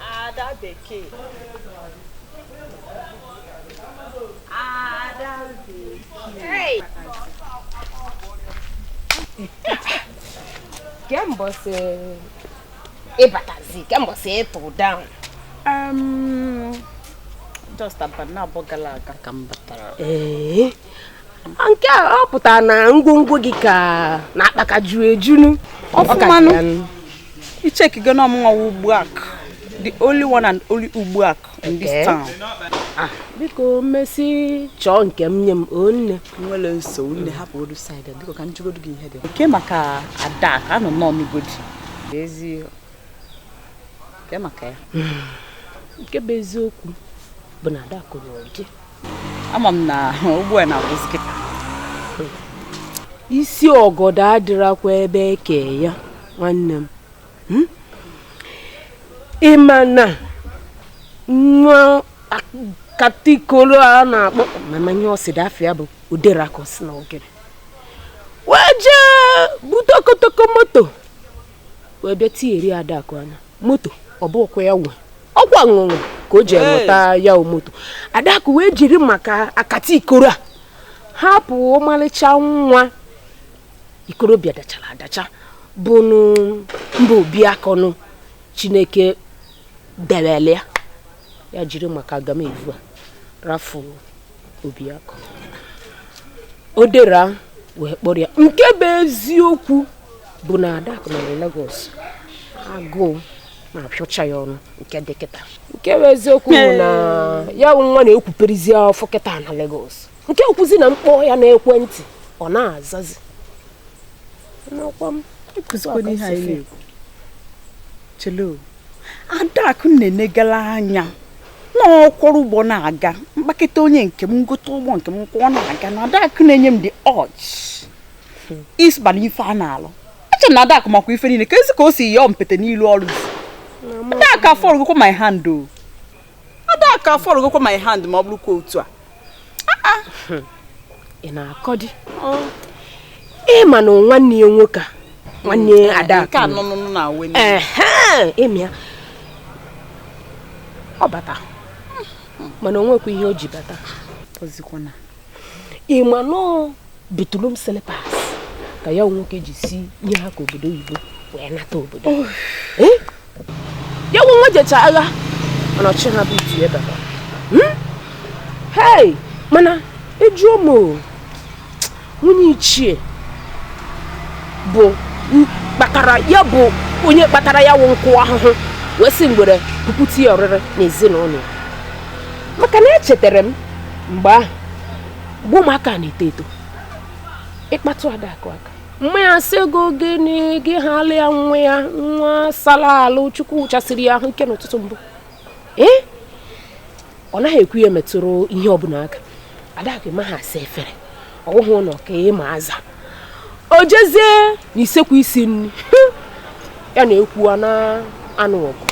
Ada Bekee. Ada Bekee. Hey! Kee mbọsị ị batazi, kee mbọsị ị tụ down. Um, just abanị naabọ gara aga ka m batara. Ee. nke a ọ pụtara na ngwongwo gị ka na akpa ka juru ejunu ọfụmanụ icheki gị n'ọmụnwa ugbu a the only one and only ugbu a in this town ah, biko mmesi chọọ nke m nye m o nne nwere nsogbu nne hapụ odu side biko ka m jụgodu gị ihe dị nke maka adakụ anọ nọ n'ugodi ezi nke maka ya nke bụ eziokwu bụ na ada kụrụ ọjị ama m na ugbu a na-agwụzi kịta isi ọgọdọ adịrakwa ebe eke ya nwanne m hmm? ị ma na nwa akatikolo a na-akpọ mmanya ọ sị na afa ya bụ Odera ka o si na ogere wee jee bute okotoko moto wee bịa tinyere adakụ anya moto ọ bụkwa ya nwe ọkwa ṅụṅụ ka o ji enweta ya moto adakụ wee jiri maka akatikoro a hapụ ọmalịcha nwa ikorobịa dachara adacha bụnụ mba Obiakọ nụ chineke dewele ya ya jiri maka agamevu a rafụ Obiakọ Odera wee kpọrọ ya nke bụ eziokwu bụ na Adaku nọ na Lagos agụụ na-apịọcha ya ọnụ nke dị kịta nke bụ eziokwu bụ na ya bụ nwa na-ekwuperizi afọ kịta na Lagos nke o kwuzi na m kpọọ ya na ekwentị ọ na-azazi chelo adakụ na-enegala anya na ọ kwọrọ ụgbọ na-aga mkpakịta onye nke m m gote ụgbọ nke m kwọọ na-aga na adakụ na-enye m dị ọchị isba na ife a na-alụ eche na adakụ makwa ife niile ka e si ka o si yọọ mpete n'ilu ọrụ adakụ afọọlụgokwa my hand o adakụ afọọlụgokwa my hand ma ọ bụrụkwa otu a ị na-akọdị ị ma na nwanne ya nwoke a nwanne ya ada ịmịa ọ bata mana o nwekwa ihe o ji bata ị ma na ọ bathroom slippers ka ya nwoke ji si ihe ha ka obodo oyibo wee nata obodo ya nwe nwa jecha agha mana ọchị ha bụ iti ebe hmm? hei mana ị jụọ m nwunye ichie bụ kpatara ya bụ onye kpatara ya wụ nkụ ahụhụ wee sị ngwere pụkute ya oriri n'ezinụlọ maka na echetara m mgbe ahụ mgbe ụmụaka na-eto eto ịkpatụ Adaku aka mma ya sị gị ọ gịnị gị halụ ya nwa ya nwa sala alụ chukwu chasiri ya ahụ ike n'ụtụtụ mbụ ee ọ naghị ekwe ya metụrụ ihe ọbụla aka Adaku amaha asa efere ọ wụhụ ụlọ ka ị ma aza o jezie na isekwu isi nri ya na ekwu na-anụ ọgụ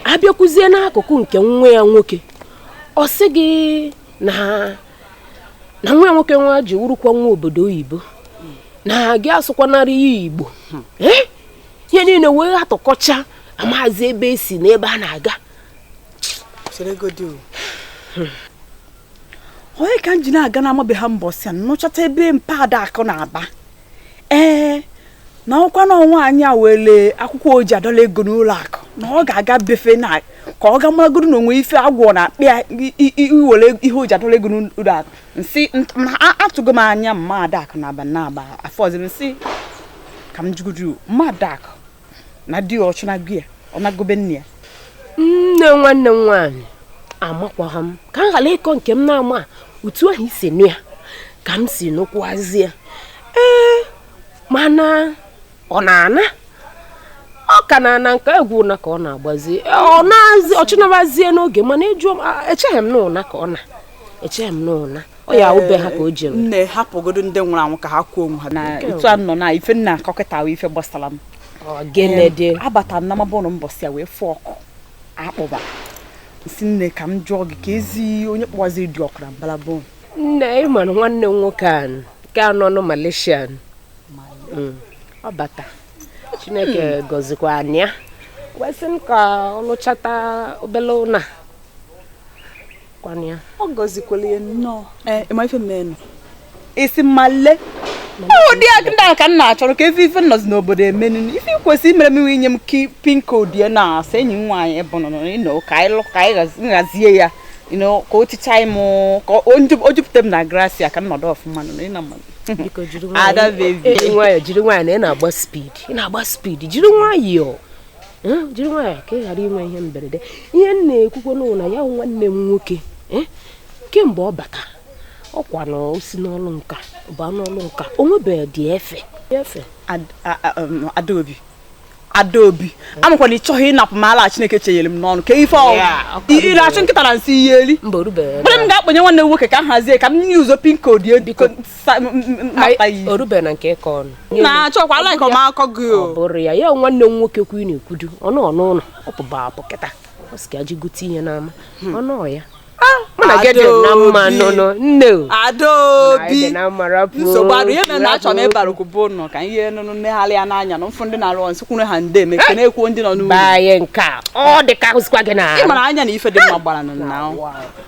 a bịakwuzie n'akụkụ nke nwa ya nwoke ọ sị gị na na nwa ya nwoke nwa ji wurukwa nwa obodo oyibo na gị asụkwanara ya igbo hmm. eh? ihe niile wee atụkọcha amazi ebe e si na ebe a na-aga hmm. onye ka m ji na-aga na amabeha mbọsị a nụchata ebe mpa Adaku na-aba ee na ọ kwa na nwaanyị a were akwụkwọ o ji adọla ego n'ụlọ akụ na ọ ga-aga be fa na ka ọ ga maragodo na o nwe ife agwọ na akpị ya iwere ihe o ji adọla ego n'ụlọ akụ m sị atụgo m anya mma Adaku na aba na aba afọ ọzọ m sị ka m jụgodu mma Adaku na di ya ọ chụnago ya ọ nago be nne ya nne nwanne m nwaanyị amakwaghị m ka m ghara ịkọ nke m na-ama otu ahụ i si nụ ya ka m si nụkwazie ee mana ọ na-ana ọ ka na-ana nke egwu ụna ka ọ na-agbazi ọ na-azị ọchịnabazie n'oge mana ị jụọ echeghị m na ụna ka ọ na echeghị m n'ụna ọ ya wụ be ha ka o jere nne hapụgodo ndị nwụrụ anwụ ka ha kwaa onwe ha na etu a nọ na ife m na-akọ kịta ife gbasara m gịnị abata na mabọnụ mbọsị ya wee fụ oku akpọba m sị nne ka m jụọ gị kezi onye kpọwaziri dị ọkụ na mbalabụ nne ị mara nwanne m nwoke a nke anọ nọ Malaysia mm. ọ bata Chineke hmm. gọzikwa anyị ya wee sị m ka ọ lụchata obele ụnọ kwanụ ya ọ gọzikwala ya nnọọ ee ị ma ife mmenụ ị sị Malay ụdị ndị a ka m na-achọrọ ka a fụ ife nọzi n'obodo emenu ife i kwesịrị imere m wụ inye m pin code ya na asa enyi m nwaanyị bụ nọ you know ka anyị lụ ka anyị nhazie ya you know ka o ticha m ka o nju- o jupụta m na grasia ka m nọdụ ọfụma nọ ịna mma biko jiri Ada nwayọọ baby. jiri nwayọọ jiri nwayọọ na ị na-agba speed ị na-agba speed jiri nwayọọ eh, jiri nwayọọ ka ị ghara inwe ihe mberede ihe m na-ekwukwo ọnụ na ya nwanne m nwoke eh, kemgbe ọ bata ọkwa na o si n'ọlụ nka baa n'ọlụ nka o nwebeghị dị efe efe um, adaobi adaobi amakwa m na ị chọghị ịnapụ m ala chineke chenyere m n'ọnụ kee ife ị na-achụ nkịta na nsị ị ya-eri mgbe m ga-akpọnye nwanne m nwoke ka m hazie ka m nye ụzọ pin code Sa- m- m- m- mata Anyị- iyi. o rube na nke ịkọ ọnụ na-achọkwa ala ị kọ m akọ gị ọ o bụrụ ya ya nwanne m nwoke kwu na-ekwudu ọnụ ọnụ ụlọ ọ pụba apụ kịta ọ sị ka je gote ihe n'ama ọnụ ọ ya mụ na gị dị na mma Adaobi. nụnụ nne o adaobi Anyị dị na mma rapụ nsogbu arụ ihe mere na achọ m rapụ. ịbara okwu bụ nọ ka ihe nụnụ negharị ya n'anya na mfụ ndị na-arụ ọrụ nsị kwuru ha nde eme ka na-ekwuo ndị nọ n'ụlọ baa ya nke a ọ dị ka ahụzikwa gị na ị mara anya na ife dị mma gbara nụ na ahụ.